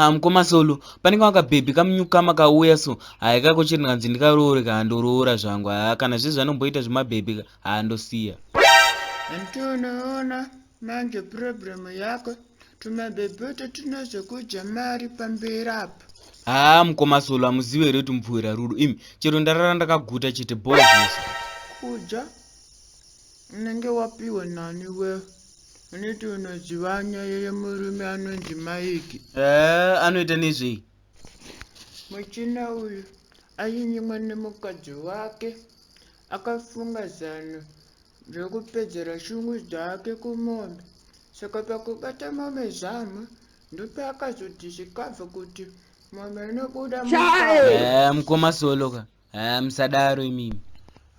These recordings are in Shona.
haa mukoma solo panenge wakabhebhi kamunyukama kauya so haya kako chiri ndikanzi ndikaroore kaa ndoroora zvangu haa kana zvizvi anomboita zvemabhebhi haa ndosiya manje problem yako tumabhebhoto tunozokudya mari pamberi apo haa mukoma solo amuzive here kuti mupfuwira rudo imi chero ndarara ndakaguta chete bozvese kudya unenge wapiwa nani we unoti unoziva nyaya yemurume anonzi maiki ee anoita nezvei muchina uyu ainyimwa nemukadzi wake akafunga zano ndokupedzera shungu dzake kumombe saka pakubata mombe zama ndopaakazoti zvikabva kuti mombe inobuda eh, mukoma soloka eh, musadaro imimi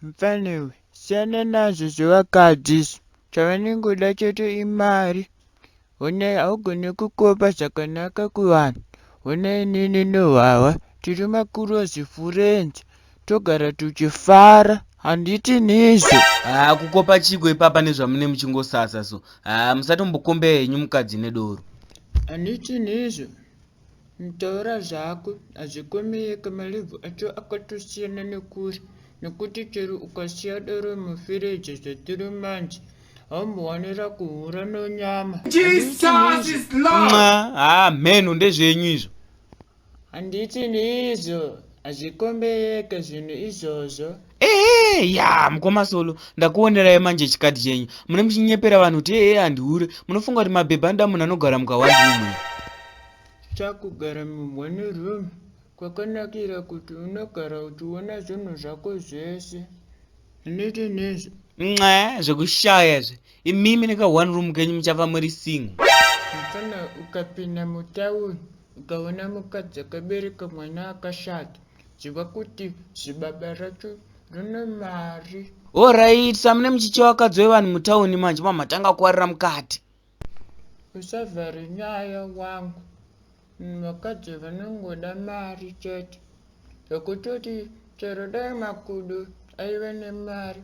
mfanewe siyana nazvo zvevakadzi izvo chavanengoda chete imari Honai haugone kukopa zvakanaka kuvanhu honai inini nehwahwa tiri makurozi furenzi togara tuchifara handiti nizvo. Haa kukopa chiko ipapa nezvamune muchingosasa so haa musatombokombea henyu mukadzi nedoro. Handiti nizvo. Taura zvako hazvikomeyeke malive acho akatosiyana nekure nekuti chero ukasiya doro mufiriji zvatiri manje haumbowanira kuhura nonyama haa mheno ndezvenyu izvo handiti neizvo hazvikomeyeke zvinhu izvozvo ehe ya mukoma solo ndakuonerai manje chikati chenyu mune muchinyepera vanhu kuti ehe handihure munofunga kuti mabhebha anoda munhu anogara mukawaiumu chakugara mumwani room kwakanakira kuti unogara uchiona zvinhu zvako zvese unite nezvo nxe zvekushaya zve imimi neka one room kenyu muchafa muri single mfana ukapinda mutauni ukaona mukadzi akabereka mwana akashata Ziva kuti zibaba racho rine mari. Alright, samune muchicha wakadzi wevanhu mutauni manje mamatanga kuwarira mukati. Usavhare nyaya wangu. Vakadzi vanongoda mari chete. Zvekutoti chero dai makudo aive nemari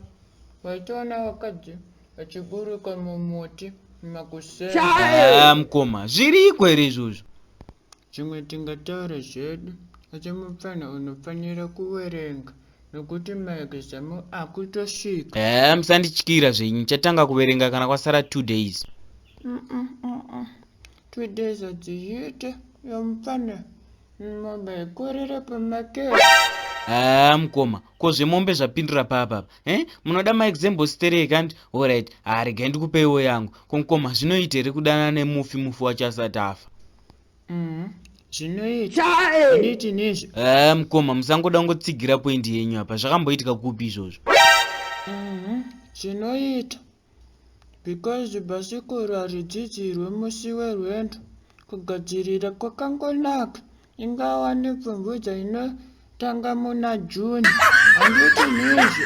waitoona wakadzi vachiburuka mumuti makuseni. Ah, mukoma, zviriko here izvozvo? Zvimwe tingataure zvedu asi mupfanha unofanira kuwerenga nokuti maexam akutosvika. Ehe musandityira zvenyu ndichatanga kuverenga kana kwasara two days. Mm-mm, mm-mm. Two days hadziite yomupfanha mombe haikorere pamakero. Ehe mukoma ko zvemombe zvapindura paa papa Eh, munoda maexample stereki andi orit haregai ndikupeiwo yangu komkoma zvinoita here kudanana nemufi mufi wacho asati afa mm-hmm. zvinoitaineitinizvo eh, mkoma musangoda kungotsigira poindi yenyu apa zvakamboitika kupi izvozvo mm-hmm. zvinoita Because bhasikoro haridzidzirwe musi werwendo. Kugadzirira kwakangonaka. Ingava nepfumvudza inotanga muna June. Handiti nizvo?